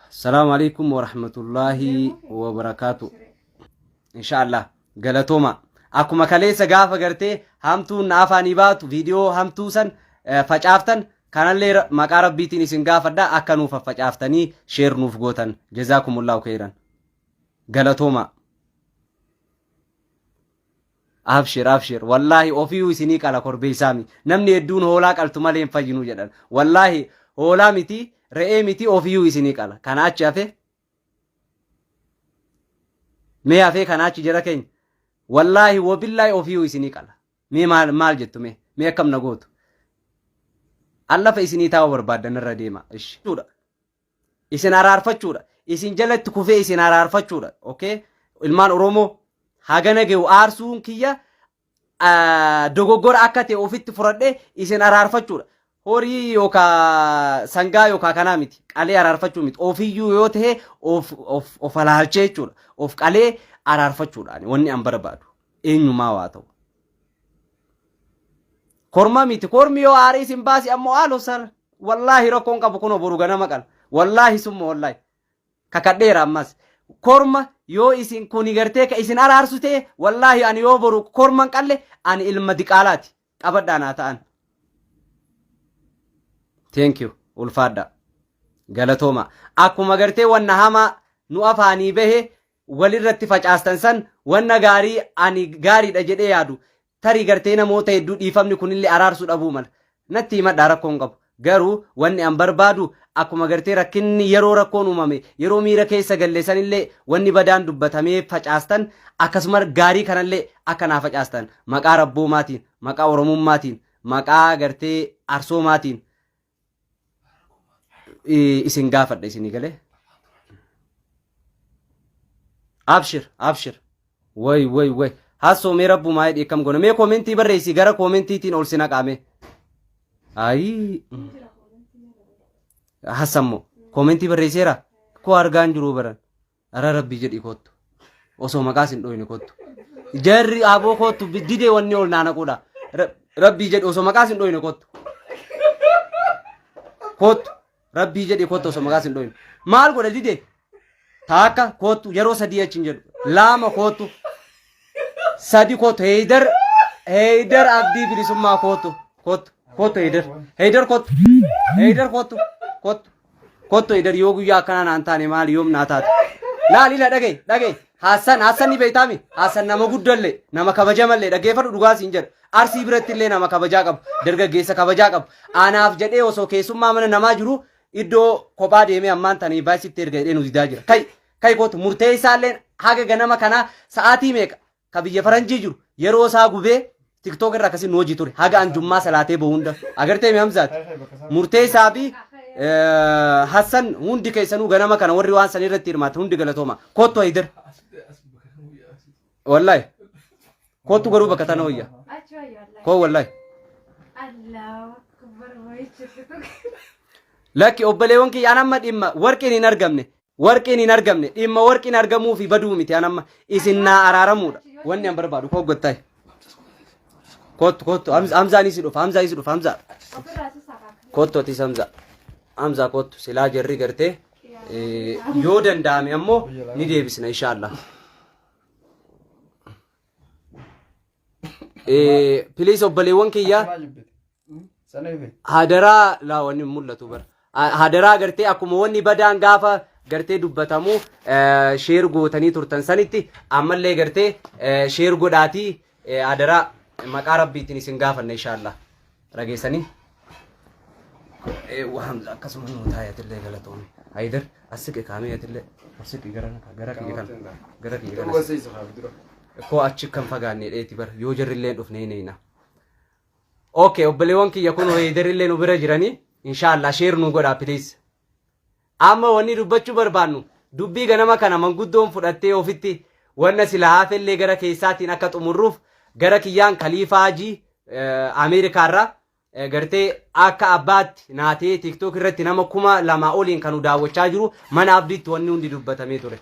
Salaamu alaikum wa rahmatullahi wa barakaatu. Inshaallah galatooma. Akkuma kaleessa gaafa gartee hamtuun na afaanii baatu viidiyoo hamtuu san eh, facaaftan kanallee ra- maqaa rabbiitiin isin gaafadha akka nuuf faccaaftanii sheer nuuf gootan jazaakumullahu khairan. Galatooma. Abshir abshir wallaahi ofiiyu isinii qala korbeessaami namni hedduun hoolaa qaltu malee hin fayyinu jedhan wallaahi hoolaa miti re'ee miti ofiiyu isinii qala kana achi hafe mee hafee kana achi jara keenya wallaahi wabillaahi ofiiyu isinii qala mee maal maal jettu mee mee akkam na gootu allafa isinii taa'uu barbaaddan irra deema ishi. isin araarfachuudha isin jalatti kufee isin araarfachuudha okay ilmaan oromoo hagana ge'u aarsuun kiyya ah, dogoggora akka ta'e ofitti fudhadhe isin araarfachuudha horii yookaa sangaa yookaa kanaa miti qalee araarfachuu miti ofiyyuu yoo ta'e of of of alaalchee jechuudha of qalee araarfachuudha ani wanni an barbaadu eenyumaa waa ta'u. Korma miti kormi yoo aarii isin baasi ammoo haaloo sar wallaahi rakkoon qabu kunoo boru ganama qala wallaahi summa wallaahi kakadheera ammas korma yoo isin kuni gartee ka isin araarsu ta'e wallaahi ani yoo boru korman qalle ani ilma diqaalaati qabadhaa naa ta'an. Thank you ulfaadhaa. galatooma akkuma gartee wanna hamaa nu afaanii bahe walirratti facaastan san wanna gaarii ani gaariidha jedhee yaadu tarii gartee namoota hedduu dhiifamni kunillee araarsuu dhabuu mala natti himadhaa rakkoo hin qabu garuu wanni an barbaadu akkuma gartee rakkinni yeroo rakkoon uumame yeroo miira keessa galle sanillee wanni badaan dubbatamee facaastan akkasuma gaarii kanallee akka naa facaastan maqaa rabboomaatiin maqaa oromummaatiin maqaa gartee arsoomaatiin i- isin gaafadha isinii galee abshir abshir way way way hassoo mee rabbumaa hidhii akkam goona mee koomentii barreessii gara koomentiitiin ol si naqaame ayii hassammoo koomentii barreesseera koo argaan jiruu baran Ara rabbi jedhi kottu. Osoo maqaas hin dhoyne kottu. Jarri aboo kottu didee wanni ol naana quudha. Rabbi jedhi osoo maqaas hin dhoyne kottu. Kottu. Rabbi jedhi kottu osoo maqaas hin dhoyne. Maal godha didee? Taakka kottu yeroo sadii achi hin jedhu. Laama kottu. Sadi kottu heeydar heeydar abdii bilisummaa kottu kottu kottu heeydar heeydar kottu heeydar kottu kottu. Kotto idar yoo guyyaa akkanaa naan taane maali yoom naa taate. Laal ila dhagee dhagee Hassan Hassan ni beektaami Hassan nama guddallee nama kabajamallee dhaggeeffadhu dhugaa siin jedha arsii biratti illee nama kabajaa qabu dargaggeessa kabajaa qabu anaaf jedhee osoo keessummaa mana namaa jiru iddoo kophaa deemee ammaan tanii baay'isitti erga jedhee nu didaa jira kai kai kootu murtee isaallee haga ganama kanaa sa'aatii meeqa ka biyya faranjii jiru yeroo isaa gubee tiktok irra akkasii nu hojii ture haga an jummaa salaatee bahu hunda agartee mi hamzaat murteessaa fi eh, hassan hundi keessanuu ganama kana warri waan san irratti hirmaatan hundi galatooma kottu haydar wallahi kottu garuu bakka tana hoyya Achi wayyo Allah. koo wallahi Allahu akbar wayichisitu. lakki obboleewwan kiyya an amma dhimma warqiin hin argamne Warqiin hin argamne dhimma warqiin argamuu fi baduu miti an amma isin naa araaramuudha wanni an barbaadu koo gottaay kottu kottu Hamz- hamzaan isi dhufa hamzaa isi dhufa hamzaa kottu atis hamzaa hamzaa kottu silaa jarri gartee eh, yoo danda'ame ammoo ni deebisna inshaallah Piliis obboleewwan kiyyaa Akkanaa jibbite. Hmm? Sana ife. hadaraa laa wanni hin mul'atu bara. Ha- Hadaraa gartee akkuma wanni badaan gaafa gartee dubbatamu eh, sheer gootanii turtan sanitti ammallee gartee eh, sheer godhaatii eh, hadaraa maqaa rabbiitiin isin gaafanna inshaallah. dhageessanii eewwa hamza akkasuma nuu taayatillee galatoome haydar assiqi kaamiyatillee assiqi gara gara kiyya kana gara kiyya kana Dhugaseessa haa dura. koo achi kan fagaanne dheeti bar yoo jarrilleen dhufne hin eeyna okay obboleewwan kiyya kun haydarillee nu bira jiranii inshaallah sheer nuu godhaa please Amma wanni dubbachuu barbaannu dubbii ganama kana manguddoon fudhattee ofitti wanna silaa hafellee gara keessaatiin akka xumurruuf gara kiyyaan Kaliifaa Hajii eh, Ameerikaarraa eh, gartee akka abbaatti naa ta'ee TikTok irratti nama kuma lamaa oliin kanu daawwachaa jiru mana abdiitti wanni hundi dubbatamee ture.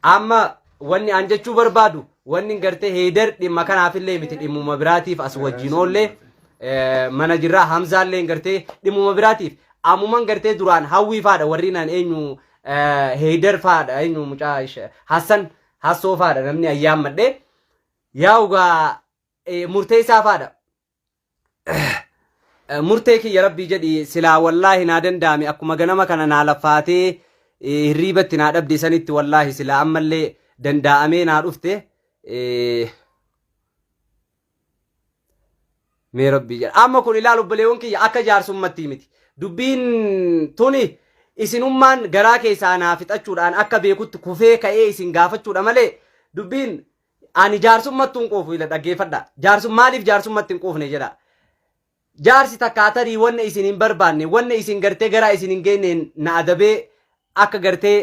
Amma wanni an jechuu barbaadu wanni gartee heeder dhimma kanaafillee miti dhimmuma biraatiif as wajjin oollee eh, mana jirraa hamzaallee gartee dhimmuma biraatiif ammuman gartee duraan hawwii faadha warri naan eenyu eh, heeder faadha eenyu mucaa ishe- hassan hassoo faadha namni ayyaammadhe yaa ugaa eh, murteessaa faadha murtee kiyya rabbii jedhi silaa wallaahi naa danda'ame akkuma ganama kana naa lafaatee eh, hirriibatti naa dhabde sanitti wallaahi silaa ammallee danda'amee naa dhufte eh, mee rabbii jedha amma kun ilaal obboleewwan kiyya akka jaarsummattii miti dubbiin tuni isinummaan garaa keessaa naa fixachuudhaan akka beekutti kufee ka'ee isin gaafachuudha malee dubbiin Ani jaarsummattu hin quufu ila dhaggeeffadha. Jaarsu maaliif jaarsummatti hin quufne jedha. Jaarsi takka atarii wanna isin hin barbaanne wanna isin gartee garaa isin hin geenneen na adabee akka gartee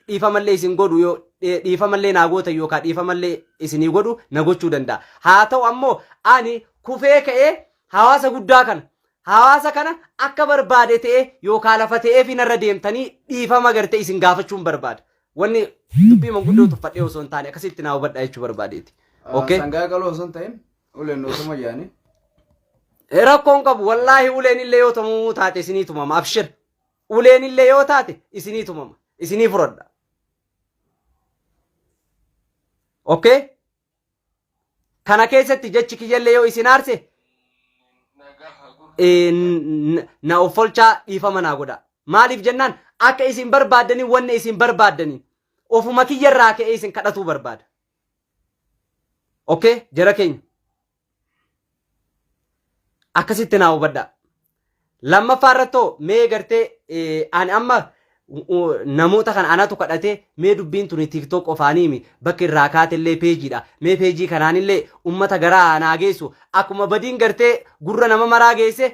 dhiifamallee isin godhu yoo dhee- dhiifamallee naa gootan yookaan dhiifamallee isinii godhu na gochuu danda'a. Haa ta'u ammoo ani kufee ka'ee hawaasa guddaa kana hawaasa kana akka barbaade ta'ee yookaan lafa ta'ee fi narra deemtanii dhiifama gartee isin gaafachuun barbaada. Wanni dubbii manguddoo tuffadhee osoo hin taane akkasitti naa hubadhaa jechuu barbaadeeti. Okay? Sangaa qaloo osoo hin ta'in uleen osoo mayyaanii. Eh, Rakkoon qabu wallaahi uleen illee yoo tumamuu taate isinii tumama abshir. Uleen illee yoo taate isinii tumama isinii furadha. Okay? Kana keessatti jechi kiyyallee yoo isin aarse eh, n- n- na offolchaa dhiifama naa godha. Maaliif jennaan akka isin barbaaddanii wanni isin barbaaddanii ofuma kiyyarraa ka'ee isin kadhatuu barbaada. Okay, jara keenya. Akkasitti naa hubadhaa. Lammaffaa irrattoo mee gartee eh, ani amma u- u- namoota kana anatu kadhatee mee dubbiin tuni tiktok qofaaniimi bakki irraa kaatellee peejiidha mee peejii kanaanillee ummata garaa naa geessu akkuma badiin gartee gurra nama maraa geesse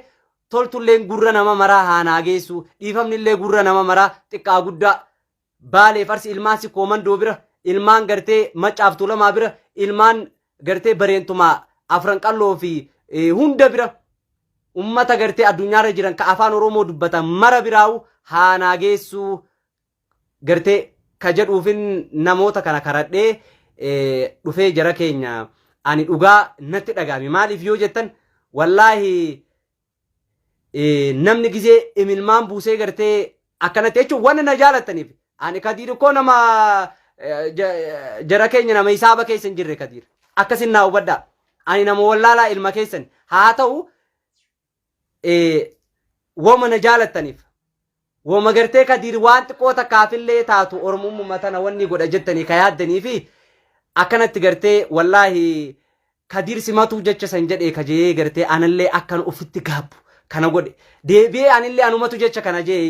toltulleen gurra nama maraa haa naa geessu dhiifamnillee gurra nama maraa xiqqaa guddaa Baaleef Arsi ilmaan Sikkoo Mandoo bira, ilmaan gartee Maccaaf Tuulamaa bira, ilmaan gartee Bareentumaa Afran Qalloo fi hunda bira ummata gartee addunyaarra jiran ka afaan Oromoo dubbatan mara biraawu haanaa geessuu gartee ka jedhuufin namoota kana karadhee dhufee jara keenya ani dhugaa natti dhaga'ame maaliif yoo jettan wallaahi namni gizee imilmaan buusee gartee akkanatti jechuun wanna na jaalattaniif ani kadiir koo nama jara keenya nama hisaaba keessa hin jirre kadiir akkasin naa hubadhaa ani nama wallaalaa ilma keessan haa ta'u wama na jaalattaniif Woma gartee kadiir waan xiqqoo takkaafillee taatu oromummaa tana wanni godha jettanii ka yaaddanii fi akkanatti gartee wallaahi kadiir simatuu jecha san jedhee ka jee gartee anallee akkan ofitti gaabbu kana godhe deebi'ee anillee anumatu jecha kana jee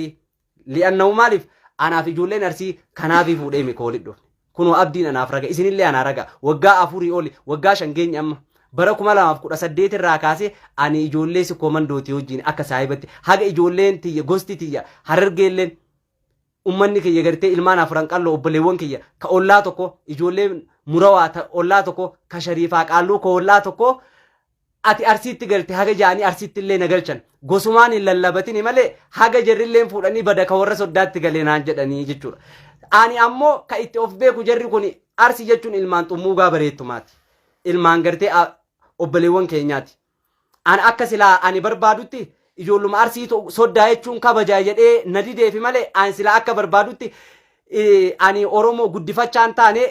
li'annahu maaliif anaaf ijoolleen arsii kanaafii fuudhee mikoolidhu. Kunoo abdiin anaaf raga, isinillee anaa raga. Waggaa afurii oli, waggaa shan geenye amma. Bara 2018 irraa kaasee ani ijoollee si koomandootii wajjin akka saahibatti haga ijoolleen tiyya gosti tiyya harargeelleen ummanni kiyya gartee ilmaan afuran qalloo obboleewwan kiyya ka ollaa tokko ijoollee murawaa ta ollaa tokko ka shariifaa qaalluu ka ollaa tokko ati Arsiitti galte haga ja'anii Arsiittillee na galchan. Gosumaan hin lallabatini malee haga jarrilleen fuudhanii bada ka warra Soddaatti gale naan jedhanii jechuudha. Ani ammoo ka itti of beeku jarri kuni Arsi jechuun ilmaan Xummuugaa Bareettumaati. Ilmaan gartee a- obboleewwan keenyaati. Ana akka silaa ani barbaadutti ijoolluma Arsiitu Soddaa jechuun kabaja jedhee na dideefi malee ani silaa akka barbaadutti eh, ani Oromoo guddifachaa hin taane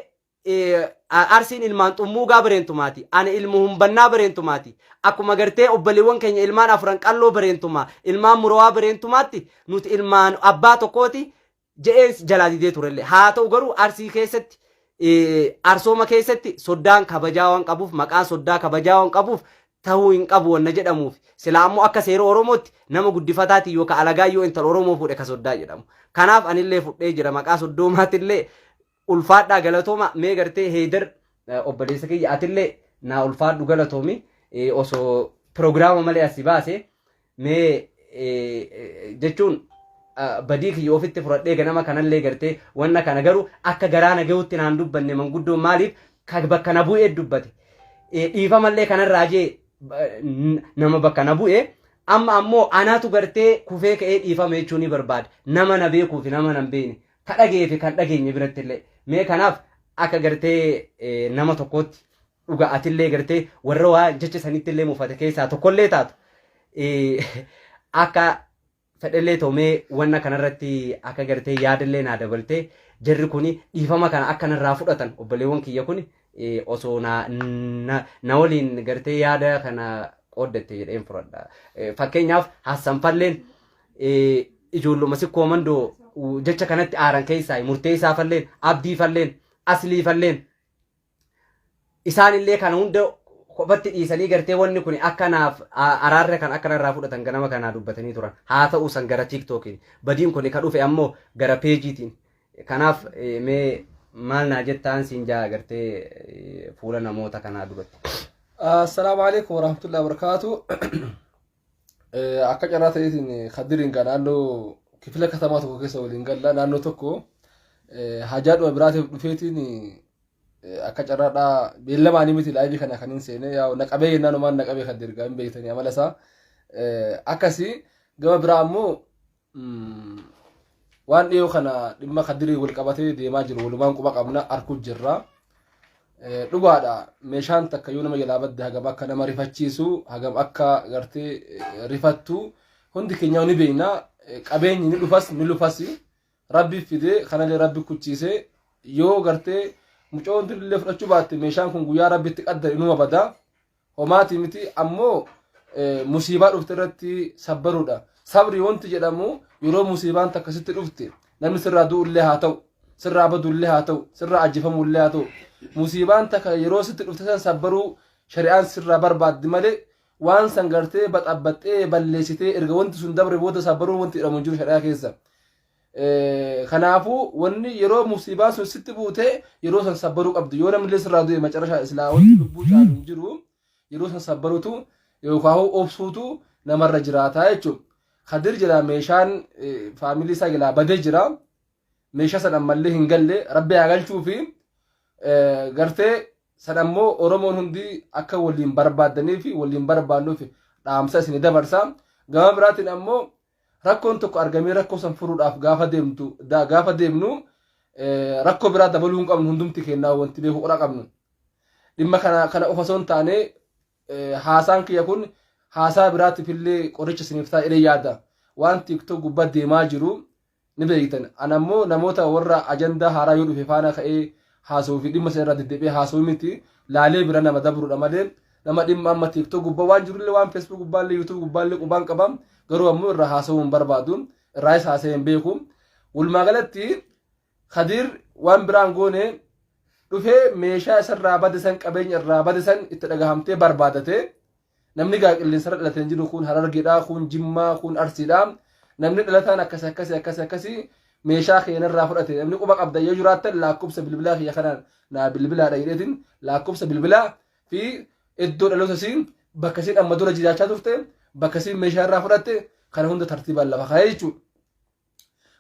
Arsiin ilmaan xummuugaa bareentumaati. Ani ilmu humbannaa bareentumaati. Akkuma gartee obbaliiwwan keenya ilmaan afran qalloo bareentumaa, ilmaan murawaa bareentumaatti nuti ilmaan abbaa tokkooti je'een jalaa didee turellee. Haa ta'u garuu arsii keessatti arsooma keessatti soddaan kabajaa waan qabuuf maqaan soddaa kabajaa waan qabuuf ta'uu hin qabu wanna jedhamuuf. Silaa ammoo akka seera Oromootti nama guddifataatiin yookaan alagaa yoo intala Oromoo fuudhe ka soddaa jedhamu. Kanaaf anillee fudhee jira maqaa soddoomaattillee ulfaadhaa galatooma mee gartee heedar obboleessa kiyya atillee naa ulfaadhu galatoomi osoo piroogiraama malee asi baase mee jechuun badii kiyya ofitti fudhadhee ganama kanallee gartee wanna kana garuu akka garaa na gahutti naan dubbanne manguddoon maaliif kan bakka na bu'ee dubbate dhiifamallee kanarraa jee nama bakka na bu'ee amma ammoo anaatu gartee kufee ka'ee dhiifama jechuu ni barbaada nama na beekuu fi nama na hin beekne ka dhaga'ee fi kan dhageenye biratti illee mee kanaaf akka gartee eh, nama tokkootti dhuga atillee gartee warra waa jecha sanitti illee mufate keessaa tokkollee taatu eh, akka fedhellee toomee wanna kanarratti akka gartee yaadallee naa dabaltee jarri kuni dhiifama kana akka narraa fudhatan obboleewwan kiyya kuni eh, osoo na, na, na waliin gartee yaada kana qooddatte jedheen fudhadha. Eh, Fakkeenyaaf Hassan Falleen ijoolluma sikkoo mandoo jecha kanatti aaran keessaa murteessaa falleen abdii falleen aslii falleen isaanillee kana hunda kophatti dhiisanii gartee wanni kun akka naaf araarra kan akka narraa fudhatan ganama kanaa dubbatanii turan haa ta'u san gara tiiktookiin badiin kun ka dhufe ammoo gara peejiitiin kanaaf mee maal naa jettaan siin jaa gartee fuula namoota kanaa duratti. Assalaamu alaikum warahmatullahi wabarakatuh. Akka carraa ta'eetiin Kadiriin kan naannoo kifila katamaa tokko keessa waliin galla naannoo tokko hajaadhuma biraatiif dhufeetiin akka carraadhaa beellamaanii miti laayivii kana kan hin seene yaa naqabee yennaan umaan naqabee kan dirgaa hin beektanii amala isaa akkasii gama biraa ammoo waan dhiyoo kana dhimma kadirii wal qabatee deemaa jiru walumaan quba qabna arkuu jirra. Dhugaadha meeshaan takka yoo nama jalaa badde hagam akka nama rifachiisu hagam akka gartee rifattu hundi keenya ni beekna qabeenyi ni dhufas ni lufas rabbi fidee kanallee rabbi kuchiise yoo gartee mucoon illee fudhachuu baatte meeshaan kun guyyaa rabbitti qaddare inuma bada Homaati miti ammoo musiibaa dhufte irratti sabbaruudha. Sabri wanti jedhamu yeroo musiibaan takka sitti dhufte namni sirraa du'ullee haa ta'u sirraa badullee haa ta'u sirraa ajjefamullee haa ta'u musiibaan takka yeroo sitti dhufte san sabbaruu shari'aan sirraa barbaaddi malee waan san gartee baxabbaxxee balleessitee erga wanti sun dabre booda sabbaruu wanti jedhamu hin jiru shari'aa keessa. Kanaafuu wanni yeroo musiibaan sun sitti buute yeroo san sabbaruu qabdu yoo namni illee sirraa du'e macarashaa islaa wanti lubbuu caalu hin jiru yeroo san sabbarutu yookaan obsuutu namarra jiraata jechuudha. Kadir jira meeshaan faamilii isaa jalaa badee jira meeshaa san ammallee hin galle rabbi haa galchuu fi gartee san ammoo Oromoon hundi akka waliin barbaaddanii fi waliin barbaannuuf dhaamsa isin dabarsa. Gama biraatiin ammoo Rakkoon tokko argamee rakkoo san furuudhaaf gaafa deemtu da- gaafa deemnu eh, rakkoo biraa dabaluu hin qabnu hundumti kennaa wanti beekuu qura qabnu. Dhimma kana kana qofa osoo hin taane eh, haasaan kiyya kun haasaa biraatiif illee qoricha isiniif ta'a jedhee yaada. Waan TikTok gubbaa deemaa jiru ni beektan. An ammoo namoota warra ajandaa haaraa yoo dhufe faana ka'ee haasawuu fi dhimma sana irraa deddeebi'ee haasawuu miti. Laalee bira nama dabruudha malee nama dhimma amma TikTok gubbaa waan jirullee waan Facebook gubbaallee YouTube gubbaallee qubaan qaba. Garuu ammoo irraa haasawuu hin barbaadu. Irraayis haasa'ee hin beeku. Walumaa galatti Kadiir waan biraan goone dhufee meeshaa isarraa bade san qabeenya irraa bade san itti dhagahamtee barbaadate Namni gaa qilleensarra dhalatee hin jiru kun harargedha, kun jimmaa, kun arsiidha. Namni dhalataan akkasi akkasi akkasi akkasi meeshaa keenarraa fudhate namni quba qabda yoo jiraattan laakkobsa bilbilaa kiyya kanaan naa bilbilaadha jedheetiin laakkobsa bilbilaa fi iddoo dhaloota siin bakka siin amma dura jiraachaa turte bakka siin meeshaa irraa fudhatte kana hunda tartiibaan lafa kaa'ee jechuudha.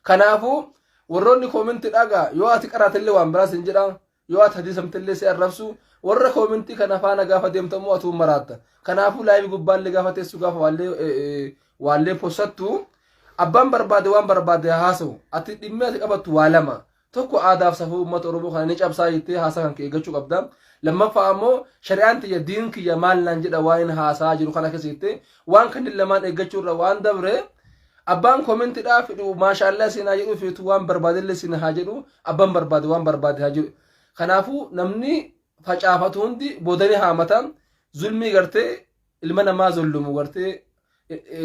Kanaafuu warroonni koominti dhagaa yoo ati qaraatillee waan biraa sin jedha yoo ati hadiisamtillee si arrabsu warra koomintii kana faana gaafa deemtu ammoo atuu maraatta. Kanaafuu laayivii gubbaallee gaafa teessu gaafa waallee waallee possattu abbaan barbaade waan barbaade haa haasa'u ati dhimmi ati qabattu waa lama Tokko aadaaf safuu uummata Oromoo kana ni cabsaa jettee haasaa kan kee eeggachuu qabda. Lammaffaa ammoo shari'aan tiyya diin kiyya maal naan jedha waan hin haasaa jiru kana keessa jettee waan kanneen lamaan eeggachuu irra waan dabre abbaan koomentiidhaa fedhu maashaallah siin haa jedhu feetu waan barbaadellee siin haa jedhu abbaan barbaade waan barbaade haa jedhu. Kanaafuu namni facaafatu hundi boodanii haamata zulmii gartee ilma namaa zollumu gartee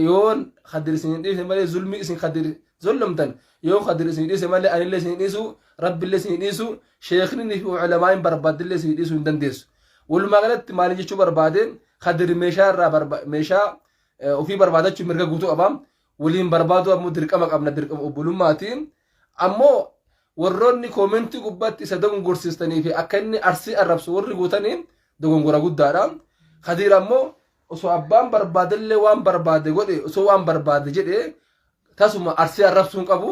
yoo kadir isin hin dhiise malee zulmii isin kadir zollomtan yoo kadir isin dhiise malee anillee isin dhiisu rabbillee isin dhiisu sheekni fi ulamaa'iin barbaadillee isin dhiisuu hin dandeessu walumaa galatti maali jechuu barbaade kadir meeshaa irraa meeshaa ofii barbaadachuu mirga guutuu qaba waliin barbaaduu ammoo dirqama qabna dirqama obbolummaati ammoo warroonni koomentii gubbaatti isa dogongorsiistanii fi akka inni arsii arrabsu warri guutanii dogongora guddaadha kadiir ammoo osoo abbaan barbaadellee waan barbaade godhe osoo waan barbaade jedhe tasuma arsii arrabsuun qabu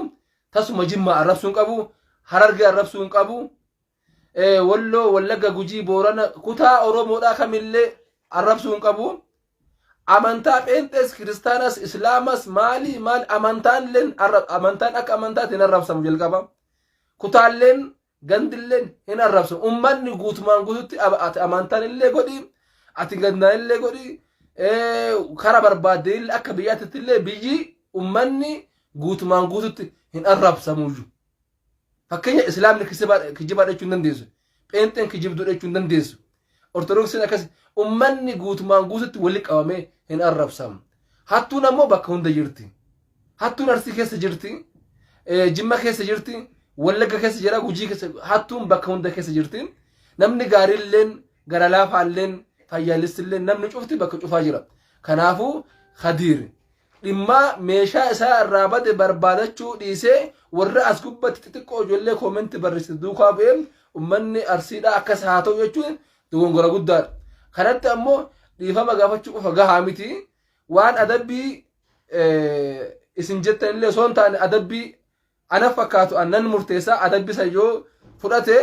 tasuma jimmaa arrabsuun qabu harargee arrabsuun qabu eh, Walloo, Wallagga, Gujii, Boorana kutaa Oromoodhaa kamillee arrabsuu hin qabu. Amantaa Pheenxees, Kiristaanas, Islaamas maalii maal amantaan illeen arra- amantaan akka amantaatti hin arrabsamu jalqaba. Kutaalleen gandilleen hin arrabsamu. Uummanni guutumaan guututti ab- ati amantaan illee godhi, ati gandaan illee godhi, eh, kara barbaaddeen illee akka biyyaatti illee biyyi uummanni guutumaan guututti hin arrabsamu iyyuu. Fakkeenya Islaamni kijibaadha jechuu hin dandeessu. Pheenxeen kijibduudha jechuu hin dandeessu. Ortodoksiin akkas ummanni guutumaan guututti wali qabamee hin arrabsamu. Hattuun ammoo bakka hunda jirti. Hattuun Arsii keessa jirti. Jimma keessa jirti. Wallagga keessa jira. Gujii keessa hattuun bakka hunda keessa jirti. Namni gaariilleen gara laafaalleen fayyaalessilleen namni cufti bakka cufaa jira. Kanaafuu Khadiir Dhimmaa meeshaa isaa irraa bade barbaadachuu dhiisee warra as gubbatti xixiqqoo ijoollee koomentti barreessite duukaa bu'ee ummanni arsiidhaa akkas haa ta'u jechuun dogongora guddaadha. Kanatti ammoo dhiifama gaafachuu qofa gahaa miti waan adabbii isin jettan illee osoo hin taane adabbii ana fakkaatu annan murteessaa adabbii san yoo fudhate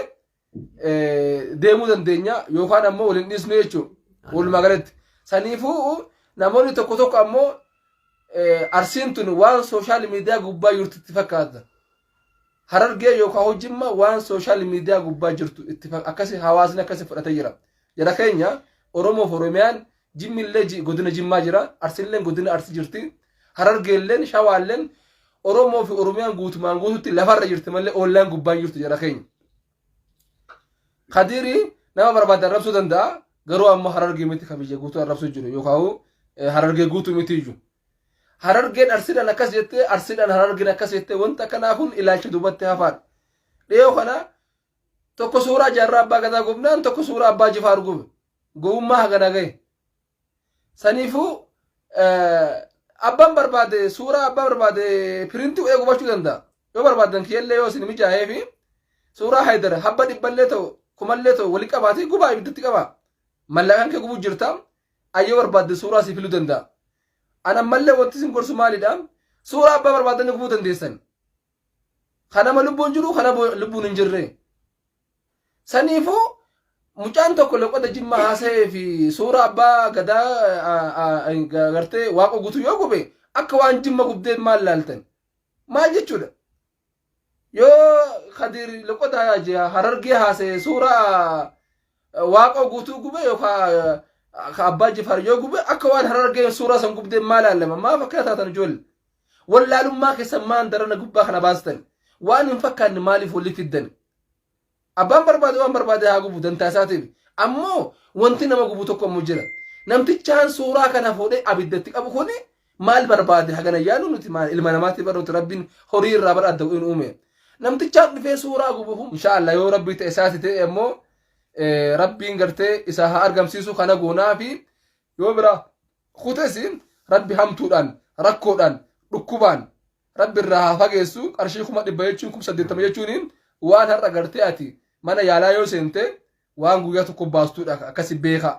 eh, deemuu dandeenya yookaan ammoo waliin dhiisnu jechuudha. Walumaa galatti. Saniifuu namoonni tokko tokko ammoo eh, arsiin tun waan sooshaal miidiyaa gubbaa jirtu itti fakkaata. Harargee yookaan hojjimma waan sooshaal miidiyaa gubbaa jirtu itti fak- akkasi hawaasni akkasi fudhatee jira. Jara keenya Oromoof Oromiyaan Jimmillee ji- godina Jimmaa jira, Arsilleen godina Arsi jirti, Harargeelleen, Shawaalleen, Oromoo fi Oromiyaan guutumaan guututti lafarra jirti malee ollaan gubbaan jirtu jara keenya. Kadiiri nama barbaade arrabsuu danda'a, garuu amma Harargee miti kan biyya guutuu arrabsuu jiru yookaan eh, Harargee guutuu miti iyyuu. Harargeen Arsiidhaan akkas jettee, Arsiidhaan Harargeen akkas jettee wanta akkanaa kun ilaalcha duubatti hafaadha. Dhiyoo kana Tokko suuraa jaarraa abbaa gadaa gubnaan tokko suuraa abbaa jifaar gube. Gowwummaa hagana gahe. Saniifuu abbaan barbaade suuraa abbaa barbaade pirintii godhee gubachuu danda'a. Yoo barbaadan kiyyallee yoo isin mijaa'ee fi suuraa haydar habba dhibballee ta'u kumallee ta'u wali qabaatee gubaa ibiddatti qabaa. Mallaqaan kee gubuu jirta. Ayyoo barbaadde suuraa si filuu danda'a. Ana mallee wanti isin gorsu maalidha? Suuraa abbaa barbaaddan gubuu dandeessan. Ka nama lubbuun jiru ka nama lubbuun hin jirre. Saniifuu mucaan tokko loqoda jimmaa haasa'ee fi suuraa abbaa gadaa gartee waaqa guutuu yoo gube akka waan jimma gubdee maal laaltan? Maal jechuudha? Yoo Kadir loqoda harargee haasa'ee suuraa waaqa guutuu gube yookaan abbaa jifaar yoo gube akka waan harargeen suuraa san gubdee maal laalama? Maaf akkana taatan ijoollee? Wallaalummaa keessan maan darana gubbaa kana baastan. Waan hin fakkaanne maaliif walitti fiddan? Abbaan barbaade waan barbaade haa gubu dantaa isaatiif. Ammoo wanti nama gubu tokko ammoo jira. Namtichaan suuraa kana fuudhee abiddatti qabu kun maal barbaade hagana yaalu nuti maal ilma namaatti bar nuti rabbiin horii irraa bar adda hin uume. Namtichaan dhufee suuraa gubu kun inshaallah yoo rabbii ta'e isaati ta'e ammoo rabbiin gartee isaa haa argamsiisu kana goonaa fi yoo biraa kutes rabbi hamtuudhaan rakkoodhaan dhukkubaan rabbi irraa haa fageessu qarshii kuma dhibba jechuun kuma saddeettama jechuun waan har'a gartee ati mana yaalaa yoo seente waan guyyaa tokko baastuudha akkasi beeka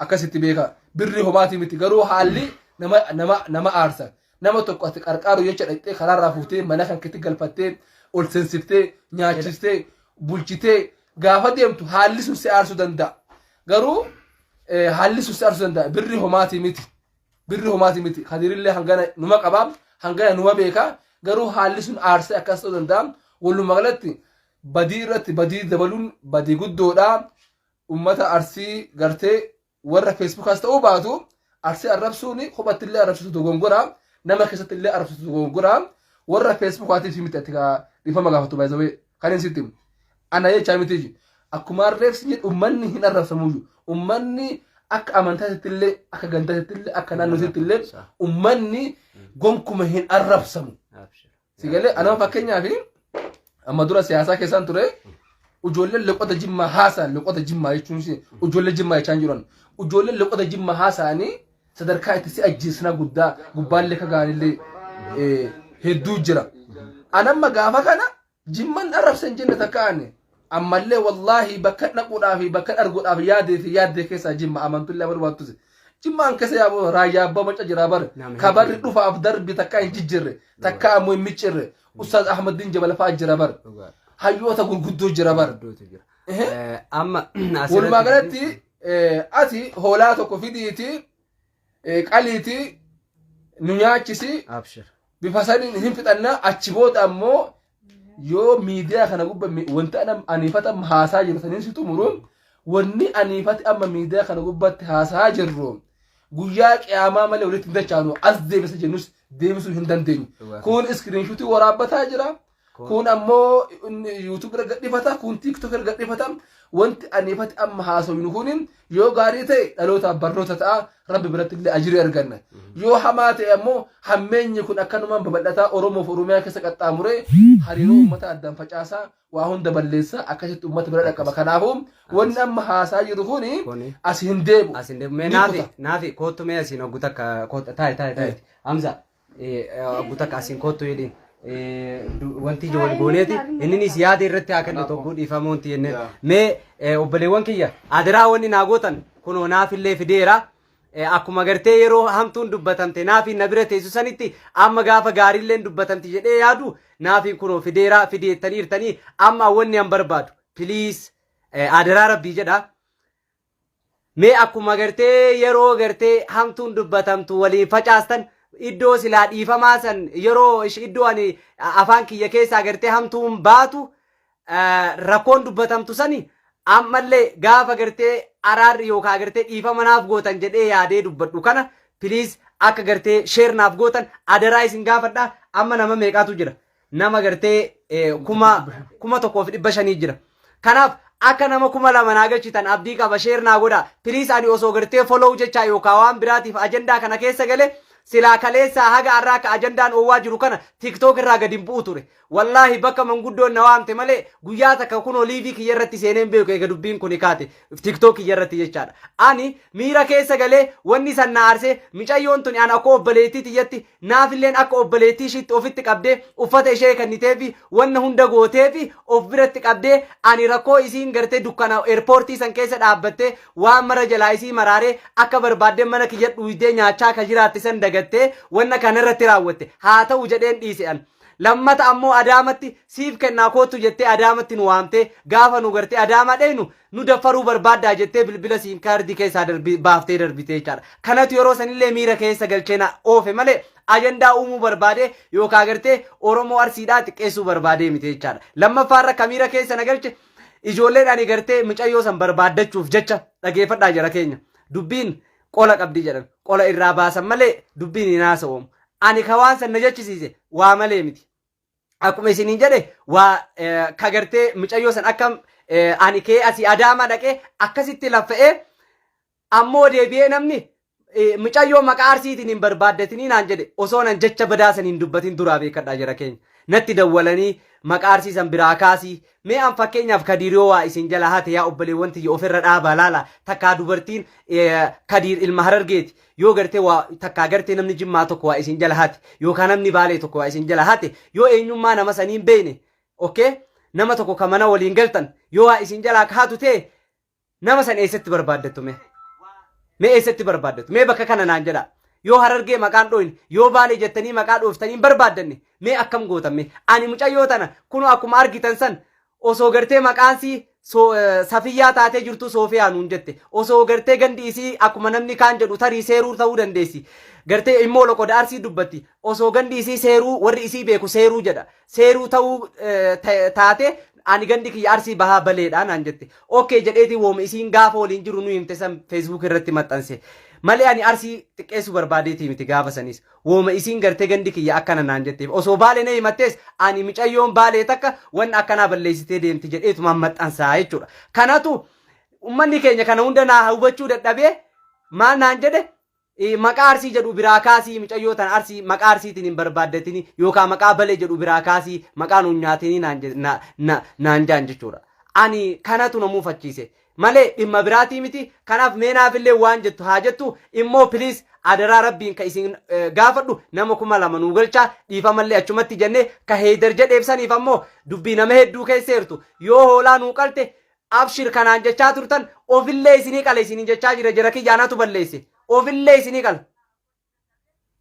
akkasitti beeka birri homaatii miti garuu haalli nama nama nama aarsa nama tokko ati qarqaaru jecha dhaqxee karaarraa fuutee mana kan keetti galfattee ol seensiftee nyaachistee bulchitee gaafa deemtu haalli sun si aarsuu danda'a garuu Eh, haalli sun si arsuu danda'a birri homaati miti birri homaati miti kadirillee hangana numa qaba hangana numa beeka garuu haalli sun aarsee akkas ta'uu danda'a walumaa galatti badii irratti badii dabaluun badii guddoodha ummata arsii gartee warra feesbuukaas ta'uu baatu arsii arrabsuun kophatti illee arrabsitu dogongora nama keessatti illee arrabsitu dogongora warra feesbuukaatiif miti ati kaa dhiifama gaafatu baay'isawee kan hin sitti Ana jechaa mitiyyuu. Akkuma harreef si jedhu ummanni hin arrabsamuyyuu. Ummanni akka amantaatti illee akka gantaatti illee akka naannootti illee ummanni gonkuma hin arrabsamu. Si galee anama fakkeenyaaf amma dura siyaasaa keessaan ture ijoolleen loqota jimmaa haasa'an loqota jimmaa jechuun ishee ijoollee jimmaa jechaa hin jiran ijoolleen loqota jimmaa haasa'anii sadarkaa itti si ajjeessinaa guddaa gubbaallee ka ga'anillee eh, hedduu jira. Anamma gaafa kana Jimman arrabse hin jenne takka ani. Ammallee wallaahi bakka dhaquudhaa fi bakka arguudhaaf yaadee fi yaaddee keessaa jimma amantullee amanuu baattuse. Jimma an keessa yaa'u raayyaa abbaa macca jira bar. Kabarri dhufaaf darbi takkaa hin jijjirre. Takkaa ammoo hin miccirre. Ustaaz Ahmaddiin Jabal fa'a jira bar. Hayyoota gurguddoo jira bar. Amma Walumaa galatti ati hoolaa tokko fidiiti eh, qaliitii nu nyaachisi Abshir. bifa saniin hin fixanna achi booda ammoo yoo miidiyaa kana gubba mi- wanti ana aniifata amma haasaa jiru saniin si xumuru wanni aniifati amma miidiyaa kana gubbatti haasaa jirru guyyaa qiyaamaa malee walitti hin dachaanu as deebisa jennus deebisuu hin dandeenyu Dhugaa. kun iskiriinshuutii waraabbataa jira Kuun ammoo YouTube irra gadhifata, kuun TikTok irra gadhifata. Wanti aniifati amma haasofnu kun yoo gaarii ta'e dhalootaaf barnoota ta'a, rabbi biratti illee ajirii arganna. Yoo hamaa ta'e ammoo hammeenyi kun akkanumaan babal'ataa Oromoof Oromiyaa keessa qaxxaamuree hariiroo uummata addaan facaasaa waa hunda balleessaa akkasitti uummata bira dhaqqaba. Kanaafuu wanni amma haasaa jiru kun Kuni. as hin deebu. Asin deemu. Mee Ni naafi, kuta. naafi, koottu mee asiin hoggu takka, koottu, taa'i, taa'i, taa'i. Hamza, Guutak asiin koottu jedhiin. Wanti ija wal gooneeti inninis yaada irratti haa kennu tokko dhiifama wanti jennee. Mee obboleewwan kiyya adiraa wanni naa gootan kunoo naafillee fideera. Akkuma gartee yeroo hamtuun dubbatamte naafiin na bira teessu sanitti amma gaafa gaariilleen dubbatamti jedhee yaadu naafiin kunoo fideera fideettaniirtanii amma wanni an barbaadu piliis adiraa rabbii jedha. Mee akkuma gartee yeroo gartee hamtuun dubbatamtu waliin facaastan iddoo silaa dhiifamaa san yeroo ish- iddoo ani a- afaan kiyya keessaa gartee hamtuun baatu eh, rakkoon dubbatamtu sani ammallee gaafa gartee araarri yookaan gartee dhiifama naaf gootan jedhee yaadee dubbadhu kana piliis akka gartee sheer naaf gootan adaraa isin gaafadha amma nama meeqaatu jira nama gartee eh, kuma kuma tokkoo fi dhibba shanii jira. Kanaaf akka nama kuma lama naa galchitan abdii qaba sheer naa godha. Piliis ani osoo gartee follow jechaa yookaan waan biraatiif ajandaa kana keessa gale silaa kaleessaa haga har'aa akka ajandaan oowwaa jiru kana tiktok irraa gadi hin bu'u ture. Wallaahi bakka manguddoon na waamte malee guyyaa takka kunoo liivii kiyya irratti seeneen beeku eega dubbiin kun kaate tiktok kiyya irratti jechaadha. Ani miira keessa galee wanni san na aarse micayyoon tuni ana akka obboleettii tiyyatti Naafilleen akka obboleettii ishiitti ofitti qabdee uffata ishee kenniteefi wanna hunda gooteefi of biratti qabdee ani rakkoo isiin gartee dukkana eerpoortii san keessa dhaabbattee waan mara jalaa isii maraaree akka barbaadde mana kiyya dhuuydee nyaachaa ka jiraatte san dagattee wanna kana irratti raawwatte haa ta'u jedheen dhiise an. Lammata ammoo Adaamatti siif kennaa koottu jettee Adaamatti nu waamtee gaafa nu gartee Adaamaa dheynu nu daffaruu barbaaddaa jettee bilbila siim kaardii keessaa darbi- baaftee darbite jechaadha. Kanatu yeroo sanillee miira keessa galchee na oofe malee ajandaa uumuu barbaadee yookaan agartee Oromoo Arsiidhaa xiqqeessuu barbaadee miti jechaadha. Lammaffaarra ka miira keessa na galche ijoolleen ani gartee mucayyoo san barbaaddachuuf jecha dhageeffadhaa jara keenya. Dubbiin qola qabdi jedhan qola irraa baasan malee dubbiin hin haasa'oomu. Ani ka waan san na jechisiise waa malee miti. akkuma isiniin jedhe waa eh, ka gartee mucayyoo san akkam eh, ani kee asii adaamaa dhaqee akkasitti laffa'ee ammoo deebi'ee namni eh, mucayyoo maqaa arsiitiin hin barbaaddatinii naan jedhe osoo nan jecha badaa san hin dubbatin duraa beekadhaa jira keenya natti dawwalanii maqaa arsii san biraa kaasii Mee an fakkeenyaaf kadiir yoo waa isin jala hate yaa obboleewwan tiyya ofirra dhaabaa laala takkaa dubartiin kadiir ilma harargeeti yoo gartee waa takkaa gartee namni jimmaa tokko waa isin jala hate yookaan namni baalee tokko waa isin jala hate yoo eenyummaa nama saniin beeyne okay nama tokko ka mana waliin galtan yoo waa isin jalaa ka hatu ta'e Nama san eessatti barbaaddattu mee? Mee eessatti barbaaddattu? Mee bakka kana naan jedhaa. Yoo harargee maqaan dhooyne, yoo baalee jettanii maqaa dhooftanii hin barbaaddanne, mee akkam gootan mee? Ani mucayyoo tana kunoo akkuma argitan san osoo gartee maqaan sii so- eh, safiyyaa taatee jirtu soofiyaa nuun jette. Osoo gartee gandi isii akkuma namni kaan jedhu tarii seeruu ta'uu dandeessi. Gartee immoo loqoda arsii dubbatti. Osoo gandi isii seeruu warri isii beeku seeruu jedha. seeruu ta'uu taate ani gandi kiyya arsii bahaa baleedha naan jette okkee jedheeti wooma isiin gaafa waliin jiru nu himte san feesbuuk irratti maxxanse malee ani arsii xiqqeessuu barbaadeetii miti gaafa sanis wooma isiin gartee gandi kiyya akkana naan jetteef osoo baale na himattees ani micayyoon baalee takka wanna akkanaa balleessitee deemti jedheetumaan maxxansaa jechuudha kanatu ummanni keenya kana hunda naa hubachuu dadhabee maal naan jedhe Maqaa Arsii jedhu biraa kaasii micayyoo tana Arsii maqaa Arsiitiin hin barbaaddatini yookaan maqaa Balee jedhu biraa kaasii maqaa nuun nyaatini naan je- na- na- naan jaan jechuudha. Ani kanatu na muufachiise malee dhimma biraatii miti kanaaf mee naafillee waan jettu haa jettu immoo piliis adaraa rabbiin ka isin eh, gaafadhu nama kuma lama nuu galchaa dhiifamallee achumatti jennee ka heeydar jedheef saniif ammoo dubbii nama hedduu keesseertu yoo hoolaa nuu qalte Abshir ka naan jechaa turtan ofillee isinii qala isinin jechaa jira jara kiyya anatu balleesse ofillee isinii qala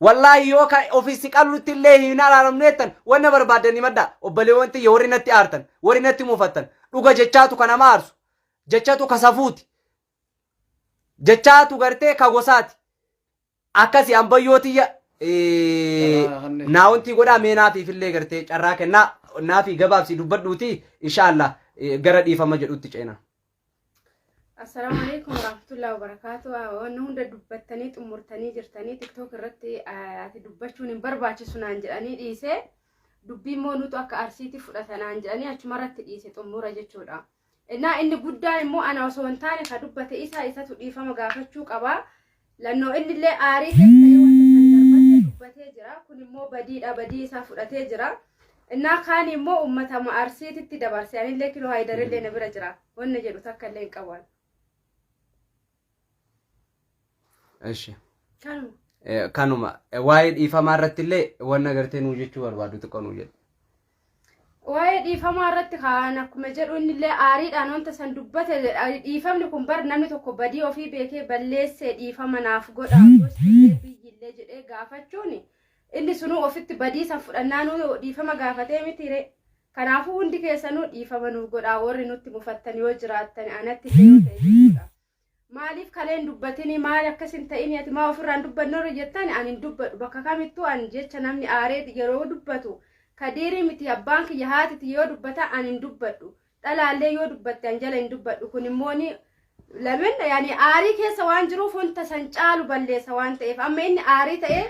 wallaahi yoo ka ofi si qalutti illee hin araaramnu jettan wanna barbaaddan himadhaa obbaleewwan tiyya warri natti aartan warri natti mufattan dhuga jechaatu ka nama aarsu jechatu ka safuuti jechaatu gartee ka gosaati akkasi ambayyoo tiyya eh, naa wantii godhaa mee naatiif illee gartee carraa kennaa naafii gabaabsii dubbadhuuti inshaallah eh, gara dhiifama jedhutti ceena. Assalaamu alaikum warahmatullahi wabarakatuh. Wanni hunda dubbattanii xumurtanii jirtanii tiktok irratti eh, ati dubbachuun hin barbaachisu naan jedhanii dhiise dubbii immoo nutu akka arsiitti fudhata naan jedhanii achuma irratti dhiise xumura jechuudha. Innaa inni guddaan immoo ana osoo hin taane ka dubbate isa isatu dhiifama gaafachuu qaba. Lannoo innillee aarii keessa ta'ee wanta san darbatee dubbatee jira. Kun immoo badiidha badii isaa fudhatee jira. Innaa kaan immoo uummata arsiititti dabarse anillee kiloo haayidarillee na bira jira. Wanna jedhu takka illee hin qabu. Eshi. Kanuma. Eh, Kanuma eh, waa'ee dhiifamaa irratti illee waan agartee nuu jechuu barbaadu xiqqoo nuu jedhu. Waa'ee dhiifamaa irratti kaan akkuma jedhu inni illee aariidhaan wanta san dubbate jedha. Dhiifamni kun bar namni tokko badii ofii beekee balleessee dhiifama naaf godha gosti illee biyyi illee jedhee gaafachuun Inni sunuu ofitti badiisan fudhannaanuu dhiifama gaafatee mitiire. Kanaafuu hundi keessanuu dhiifama nuuf godhaa warri nutti mufattan yoo jiraattan anatti illee yoo ta'e jechuudha. Maaliif kaleen dubbatini maali akkas hin ta'ini ati maa ofirraan dubbanne warri jettan ani hin dubbadhu bakka kamittuu ani jecha namni aaree yeroo dubbatu kadiirii miti abbaan kiyya haatiti yoo dubbata ani hin dubbadhu. dhalaallee yoo dubbatte an jala hin dubbadhu kun immoo ni lamin yaani aarii keessa waan jiruuf wanta san caalu balleessa waan ta'eef amma inni aarii ta'ee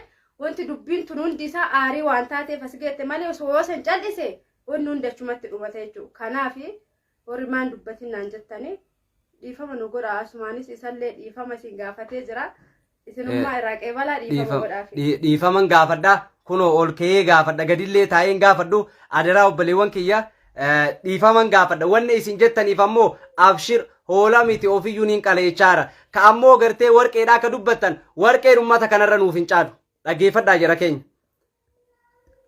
wanti dubbiin tun hundi isaa aarii waan taateef as geette malee osoo yoo san cal'ise wanni hundi achumatti dhumata jechuudha kanaaf warri maan dubbatin naan jettanii dhiifama nu godha asumaanis isallee dhiifama isin gaafatee jira Isinummaa irraa qeebalaa dhiifama dhiifama godhaaf. dhii- dhiifaman gaafadha kunoo ol ka'ee gaafadha gadillee taa'een gaafadhu adaraa obboleewwan kiyya eh, dhiifaman gaafadha wanni isin jettaniif ammoo abshir hoolaa miti ofiyyuu niin qaleechaara ka ammoo gartee warqeedhaa ka dubbattan warqeen ummata kanarra nuuf hin caalu dhaggeeffadhaa jara keenya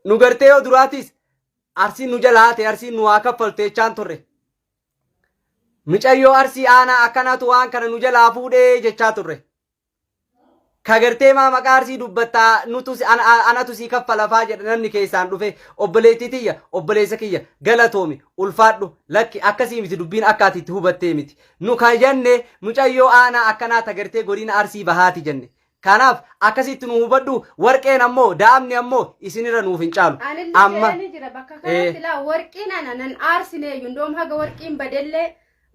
nu gartee yoo duraatiis arsiin nu jala haate arsiin nu haa kaffaltu jechaan turre Micayyoo Arsii aanaa akkanatu waan kana nu jalaa fuudhee jechaa turre. Kagartee maa maqaa Arsii dubbattaa nutu si- ana- a- anatu sii kaffalafaa jedha namni keessaan dhufe obboleettii tiyya obboleessa kiyya galatoomi ulfaadhu lakki akkasii miti dubbiin akka ati itti hubattee miti. Nu kan jenne mucayyoo aanaa akkanaa tagartee godina Arsii bahaati jenne. Kanaaf akkasitti nu hubadhu warqeen ammoo daa'amni ammoo isinirra nuuf hin caalu. Anillee Amma jedhanii jira bakka ee. kanatti laa warqiin ana nan aarsineeyyu ndoom haga warqiin badellee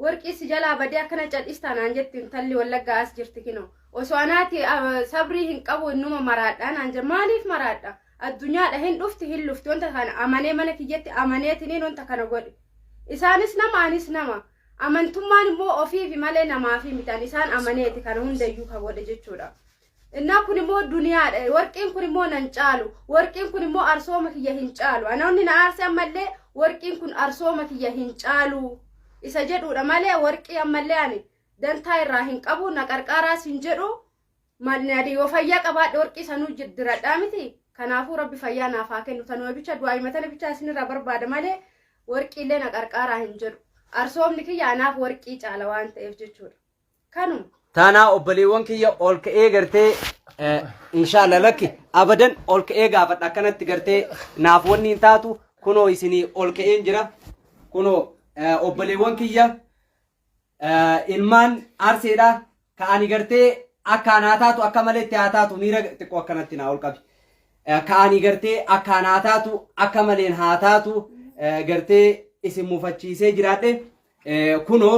warqii si jalaa badee akkana cadhistaa naan jetti intalli wallaggaa as jirti kino osoo anaati ah, sabrii hin qabu innuma maraadhaa naan jedha maaliif maraadha addunyaadha hin dhufti hin lufti wanta kana amanee mana kiyyatti amaneetiniin wanta kana godhe isaanis nama anis nama Amantummaan immoo ofiifi malee namaafi miti. Ani isaan amaneeti kana hundayyuu ka godhe jechuudha. Innaa kun immoo duniyaadha. Warqiin kun immoo nan caalu. Warqiin kun immoo arsooma kiyya hin caalu. Anaonni na aarse ammallee warqiin kun arsooma kiyya hin caalu. Isa jedhuudha malee warqii ammallee ani dantaa irraa hin qabu na qarqaaraas hin jedhu Maadnaadi yoo fayyaa qabaadhe warqii sanuu jiddiradhaa miti. Kanaafuu rabbi fayyaa naaf haa kennu tanuma bicha du'aa himatana bicha isinirraa barbaada malee warqiillee na qarqaaraa hin jedhu. Arsoomni kiyya anaaf warqii caala waan ta'eef jechuudha. Kanuma. Taanaa obboleewwan kiyya ol ka'ee gartee eh, inshaalla lakki abadan ol ka'ee gaafadha akkanatti gartee naaf wanni hin taatu kunoo isinii ol ka'een jira kunoo eh, obboleewwan kiyya ilmaan arseedha ka ani gartee akkaan haa taatu akka malee itti haa taatu miira xiqqoo akkanatti naa ol qabi ka ani gartee akkaan haa taatu akka maleen haa taatu gartee isin mufachiisee jiraadhe kunoo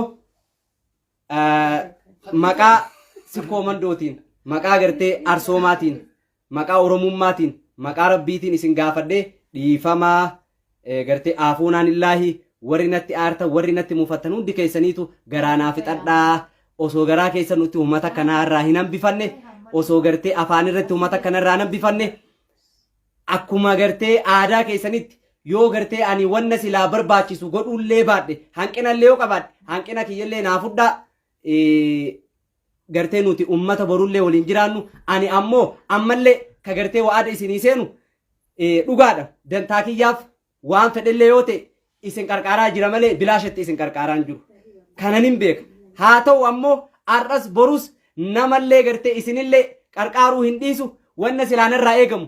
maqaa sikkoo mandootiin maqaa gartee arsoomaatiin maqaa oromummaatiin maqaa rabbiitiin isin gaafadhee dhiifamaa gartee aafuunaan illaahi warri natti aartan warri natti mufattan hundi keessaniitu garaa naa fixadhaa osoo garaa keessa nutti uummata kanaa irraa hin hambifanne osoo gartee afaan irratti uummata kana irraa hin hambifanne akkuma gartee aadaa keessanitti yoo gartee ani wanna silaa barbaachisu godhullee baadhe hanqinallee yoo qabaadhe hanqina kiyyallee naa fudhaa gartee nuti ummata borullee waliin jiraannu ani ammoo ammallee ka gartee wa'ada isinii seenu dhugaadha dantaa kiyyaaf waan fedhellee yoo ta'e isin qarqaaraa jira malee bilaashatti isin qarqaaraan jiru kanan hin beeka haa ta'u ammoo har'as borus namallee gartee isinillee qarqaaruu hin dhiisu wanna silaanarraa eegamu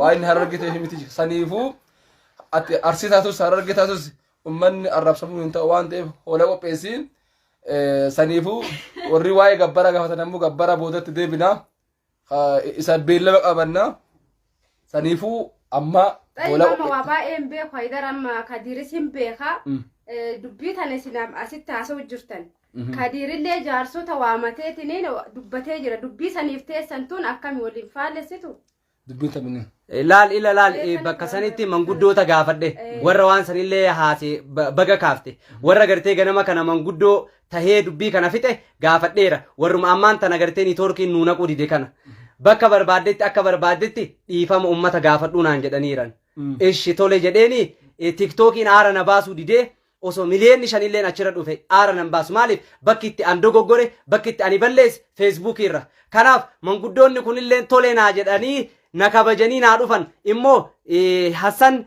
waa inni hararge ta'eef miti saniifuu ati arsii taatus hararge taatus ummanni arrabsamuu hin ta'u waan ta'eef hoola qopheessi Eh, saniifuu warri waa'ee gabbara gaafatan ammoo gabbara boodatti deebina Ah, isa beellama qabanna saniifuu amma Xayi hoola mama waa baay'ee hin beeku haydar amma kadiiris hin beeka Mm. Eh, dubbii tana isin asitti haasa'u jirtan Kadiirillee jaarsota waamateetiniin dubbatee jira. Dubbii saniif teessan tun akkami waliin faallessitu? Dubbiin taphni. Laal ila laal eh, bakka sanitti manguddoota gaafadhe warra waan sanillee haase ba- baga kaafte warra gartee ganama kana manguddoo tahee dubbii kana fixe gaafadheera warruma ammaan tana gartee niitoorkiin nuu naquu dide kana bakka barbaaddetti akka barbaaddetti dhiifama ummata gaafadhuu naan jedhaniiran ishi tole jedheeni eh, tiktookiin aara na baasuu didee Osoo miliyeenni shanilleen achirra dhufe aara nan baasu. Maaliif? Bakki itti an dogoggore, bakki itti ani balleesse Feesbuukii irra. Kanaaf manguddoonni kunilleen tole naa jedhanii na kabajanii naa dhufan. Immoo Hassan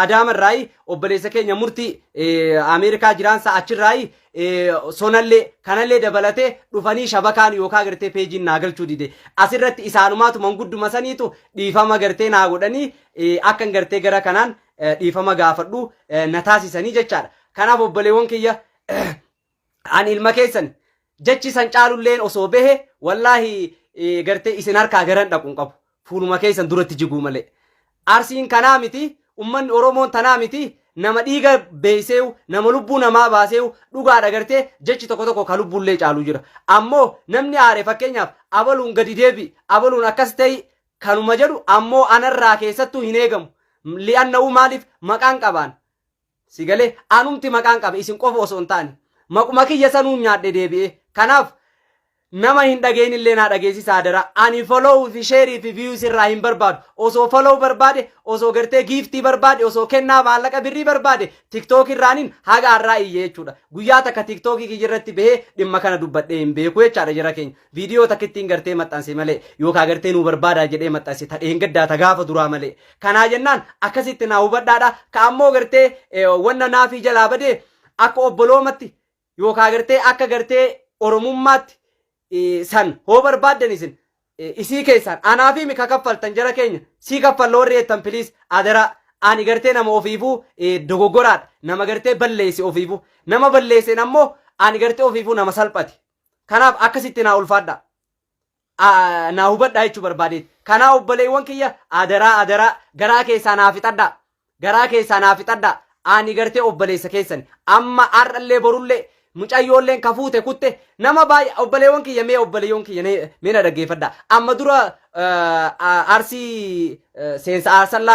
Adaama irraayi obboleessa keenya murtii Ameerikaa jiraansa achirraayi sonallee kanallee dabalatee dhufanii shabakaan yookaan gartee peejiin naa galchuu dide. Asirratti isaanumaatu mangudduma saniitu dhiifama gartee naa godhanii akkan gartee gara kanaan eh, dhiifama gaafadhu eh, na taasisanii jechaadha. Kanaaf obboleewwan kiyya eh, ani ilma keessan jechi san caalulleen osoo behe wallaahi eh, gartee isin harkaa garan dhaqu hin qabu. Fuuluma keessan duratti jiguu malee. Arsiin kanaa miti, ummanni Oromoon tanaa miti, nama dhiiga beeyseewu, nama lubbuu namaa baaseewu, dhugaadha gartee jechi tokko tokko ka lubbuullee caalu jira. Ammoo namni aare fakkeenyaaf abaluun gadi deebi, abaluun akkas ta'e kanuma jedhu ammoo anarraa keessattuu hin eegamu. Li'annahu maaliif maqaan qabaan. Si galee anumti maqaan qabe isin qofa osoo hin taane. Maquma kiyya sanuun nyaadhe deebi'ee. Kanaaf nama hin dhageenye illee naa dhageessisa adaraa. Ani follow fi share fi views irraa hin barbaadu. Osoo follow barbaade, osoo gartee giiftii barbaade, osoo kennaa maallaqa birrii barbaade TikTok irraanin haga har'aa iyye jechuudha. Guyyaa takka TikTok kiyya irratti bahee dhimma kana dubbadhee hin beeku jechaadha jara keenya. Viidiyoo takkittiin gartee maxxanse malee yookaan gartee nuu barbaadaa jedhee maxxanse ta dheengaddaa ta gaafa duraa malee. Kanaa jennaan akkasitti naa hubadhaadha. Ka ammoo gartee eh, wanna naafii jalaa badee akka obboloomatti yookaan gartee akka gartee oromummaatti eh, san hoo barbaaddan isin eh, isii keessaan anaa fi mika kaffaltan jara keenya sii kaffalla warri jettan piliis adaraa ani gartee nama ofiifuu eh, dogoggoraadha nama gartee balleesse ofiifuu nama balleesseen ammoo ani gartee ofiifuu nama salphate Kanaaf akkasitti naa ulfaadhaa. Aa, naa hubadhaa jechuu barbaadeeti. Kanaa obboleewwan kiyya adaraa adaraa garaa keessaa naa fixadhaa. Garaa keessaa naa fixadhaa. Ani gartee obboleessa keessani. Amma har'allee borullee mucayyoolleen ka fuute kutte nama baay'ee obboleewwan kiyya mee obboleewwan kiyya na- mee na dhaggeeffadhaa. Amma dura eh, ah, arsii eh, seensa arsallaa